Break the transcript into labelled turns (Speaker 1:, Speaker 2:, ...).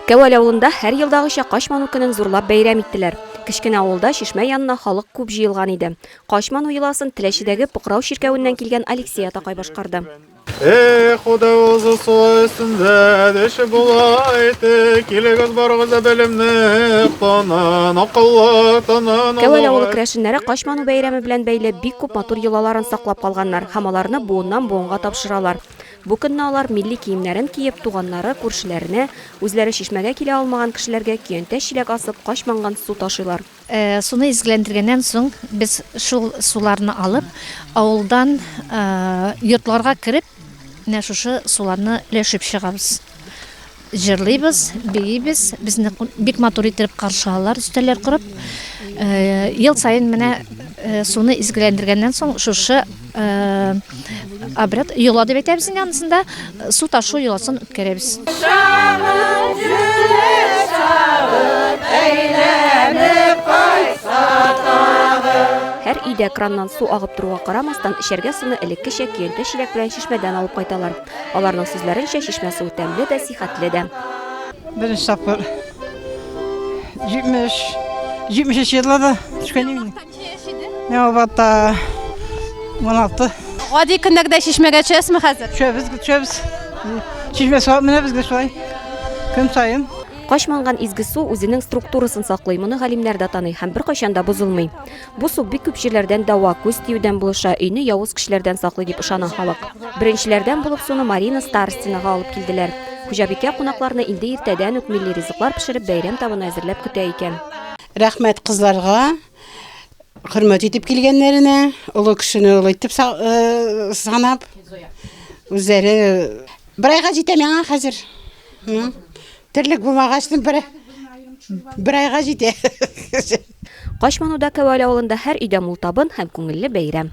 Speaker 1: Кәвәл авылында һәр елдагыча Качману көнен зурлап бәйрәм иттеләр. Кечкенә авылда чишмә янына халык күп җыелган иде. Качману йоласын Теләчедәге Покрау чиркәвеннән килгән Алексей атакай башкарды. Эх,
Speaker 2: худа узы суы өстендә деше була ите, килегез барыгыз да белемне тонын, акыллы тонын. Кәвәл авылы керәшеннәре
Speaker 1: Качману бәйрәме белән бәйле бик күп матур йолаларын саклап калганнар. Һәм аларны буыннан-буынга тапшыралар. Бу көнне алар милли киемнәрен киеп, туганнары, күршеләренә, үзләре чишмәгә килә алмаган кешеләргә көянтә чиләк асып, кач манган су ташыйлар. Суны
Speaker 3: изгеләндергәннән соң, без шул суларны алып, авылдан йортларга кереп, менә шушы суларны өләшеп чыгабыз. Җырлыйбыз, биибез. Безне бик матур итеп каршы алалар, өстәлләр корып. Ел саен менә суны изгеләндергәннән соң шушы обряд йола дип әйтәбез инде анысында су ташу йоласын үткәрәбез.
Speaker 1: Һәр өйдә краннан су агып торуга карамастан, эчәргә суны элеккечә көянтә-чиләк белән чишмәдән алып кайталар. Аларның сүзләренчә, чишмә суы тәмле дә, сихәтле дә. Беренче
Speaker 4: тапкыр 70 73 елда да төшкән идем. Миңа вата 16. Гади
Speaker 5: көндәгедәй чишмәгә төшәсезме хәзер? Төшәбез, төшәбез.
Speaker 4: Чишмә суы менә безгә шулай. Көн саен. Качманган изге
Speaker 1: су үзенең структурасын саклый, моны галимнәр дә таный һәм беркайчан да бозылмый. Бу су бик күп җирләрдән дәва, күз тиюдән булыша, өйне явыз кешеләрдән саклый дип ышана халык. Беренчеләрдән булып суны Марина Старостинага алып килделәр. Хуҗабикә кунакларны инде иртәдән үк милли ризыклар пешереп, бәйрәм табыны әзерләп көтә икән. Рәхмәт
Speaker 6: кызларга, хөрмәт итеп килгәннәренә, олы кешене олы итеп санап, үзләре бер айга җитә миңа хәзер. Терлек булмагач, бер бер айга җитә. Качмануда
Speaker 1: Кәвәле авылында һәр өйдә мул табын
Speaker 6: һәм
Speaker 1: күңелле бәйрәм.